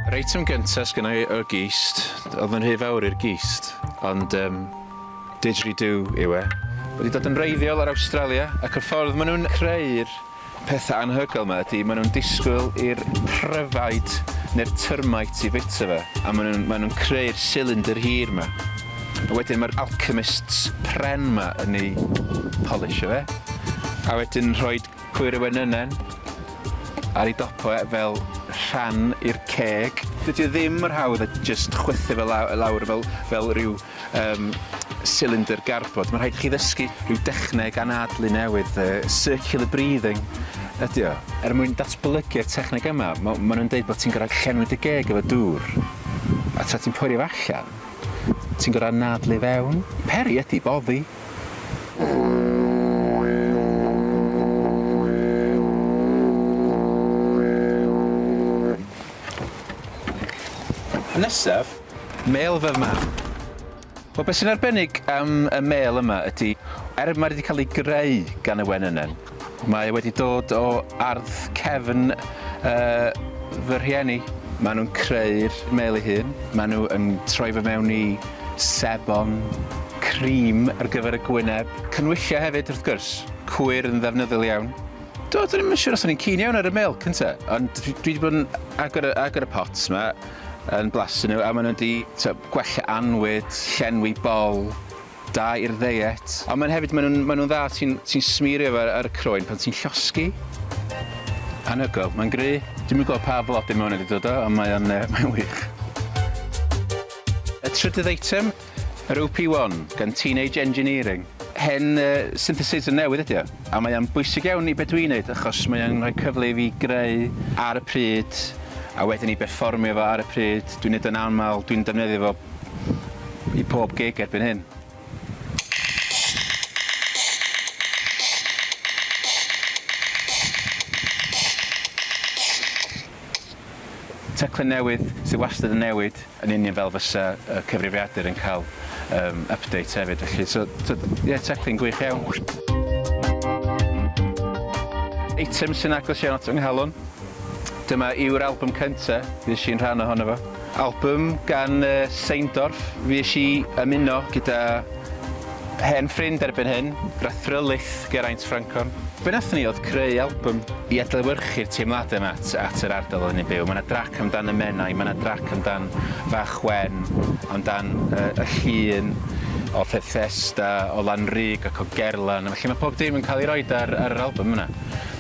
Yr eitem gyntaf sgyn i y gist, oedd yn rhy fawr i'r gist, ond um, didgeridoo yw e. Wedi dod yn reiddiol ar Awstralia ac y ffordd maen nhw'n creu'r Peth anhygoel yma ydi, maen nhw'n disgwyl i'r pryfaid neu'r termite i fwyta fe, a maen nhw'n maen nhw'n creu'r silindr hir yma. A wedyn mae'r alchemists pren yma yn ei polisio fe, a wedyn yn rhoi cwyr y wenynen ar ei dopo e fel rhan i'r ceg. Dydi o ddim mor hawdd a jyst chwythu fe law- lawr fel fel ryw Yym, cylinder garbod. Mae'n rhaid i chi ddysgu rhyw dechneg anadlu newydd, circular breathing ydy o. Er mwyn datblygu'r techneg yma, mae nhw'n dweud bod ti'n gorfod llenwi dy geg efo dŵr, a tra ti'n poeri fo allan, ti'n gorfod anadlu i fewn. Peri ydy boddi. Nesaf. Mêl fy mam. Wel be sy'n arbennig am y mêl yma ydy, er mae wedi cael ei greu gan y wenynen, mae e wedi dod o ardd cefn yy fy rhieni. Maen nhw'n creu'r mêl ei hun, maen nhw yn troi fe mewn i sebon, cream ar gyfer y gwyneb, cynwylliau hefyd wrth gwrs, cwyr yn ddefnyddiol iawn. Do, dwi ddim yn siŵr os o'n i'n keen iawn ar y mêl cynta, ond dwi wedi bod yn agor y agor y pots 'ma yn blasu nhw a maen nhw'n di gwella anwyd, llenwi bol, da i'r ddeiet. Ond maen hefyd, maen nhw'n nhw dda, ti'n ti smirio fe ar y croen pan ti'n llosgi. Anhygoel, mae'n gry. Dwi'n mynd gweld pa flodyn mae hwn wedi dod o, ond mae o'n uh, mae wych. Y trydydd eitem, Yr OP1, gan Teenage Engineering. Hen synthesizer newydd ydy o, a mae o'n bwysig iawn i be dwi'n neud achos mae o'n rhoi cyfle i fi greu ar y pryd a wedyn i berfformio fo ar y pryd, dwi'n neud o'n amal, dwi'n defnyddio fo i pob gig erbyn hyn. Teclyn newydd sydd wastad yn newid. yn union fel fysa y cyfrifiadur yn cael um, update hefyd felly. So, ie, yeah, teclyn gwych iawn. Eitem sy'n agos iawn at fy nghalon. Dyma yw'r album cyntaf, fi eisiau'n rhan ohono fo. Album gan uh, Seindorf, fi eisiau ymuno gyda Hen ffrind erbyn hyn, Brethril Lith, Geraint Francon. Be wnaethon ni oedd creu albwm i adlewyrchu'r teimladau 'ma at at yr ardal oedden ni'n byw. Mae 'na drac amdan y Menai, mae 'na drac amdan Fach Wen, amdan yy y llun o Fethesda, o Lanrug ac o Gerlan, felly mae pob dim yn cael ei roid ar ar yr albwm yna.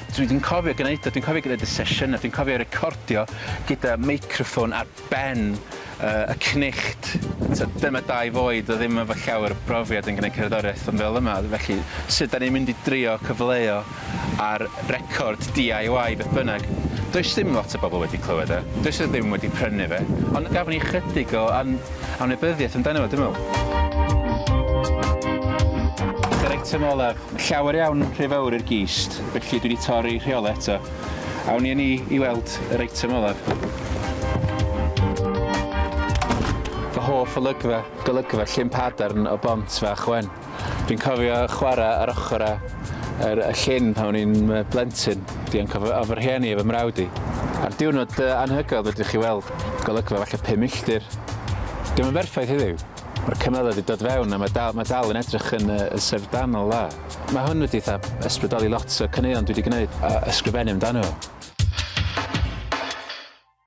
Dwi dwi'n cofio gwneud o, dwi'n cofio gwneud y sesiynau, dwi'n cofio recordio gyda meicroffon a ben y cnicht. T'od dyma dau foed oedd ddim efo llawer o brofiad yn gneud cerddoriaeth ond fel yma felly sut 'dan ni'n mynd i drio cyfleu-o ar record DIY beth bynnag. Does dim lot o bobl wedi clywed e, does 'na ddim wedi prynu fe ond gafon ni ychydig o an- anwybyddiaeth amdano fo dwi me'wl. Yr eitem olaf, llawer iawn rhy fowr i'r gist felly dwi 'di torri rheolau eto. Awn ni â ni i weld yr eitem olaf. Fy hoff olygfa, golygfa Llyn Padarn o Bont Fach Wen. Dwi'n cofio chwarae ar ochr a yr y llyn pan o'n i'n yy blentyn, dianc o fy o fy rhieni a fy mrawd i. Ar diwrnod yy anhygoel fedrwch chi weld golygfa falle pum milltir. Dio'm yn berffaith heddiw, ma'r cymylau 'di dod fewn a ma' dal ma' dal yn edrych yn yy yn syfrdanol dda. Mae hwn wedi eitha ysbrydoli lot o caneuon dwi 'di gneud a ysgrifennu amdano.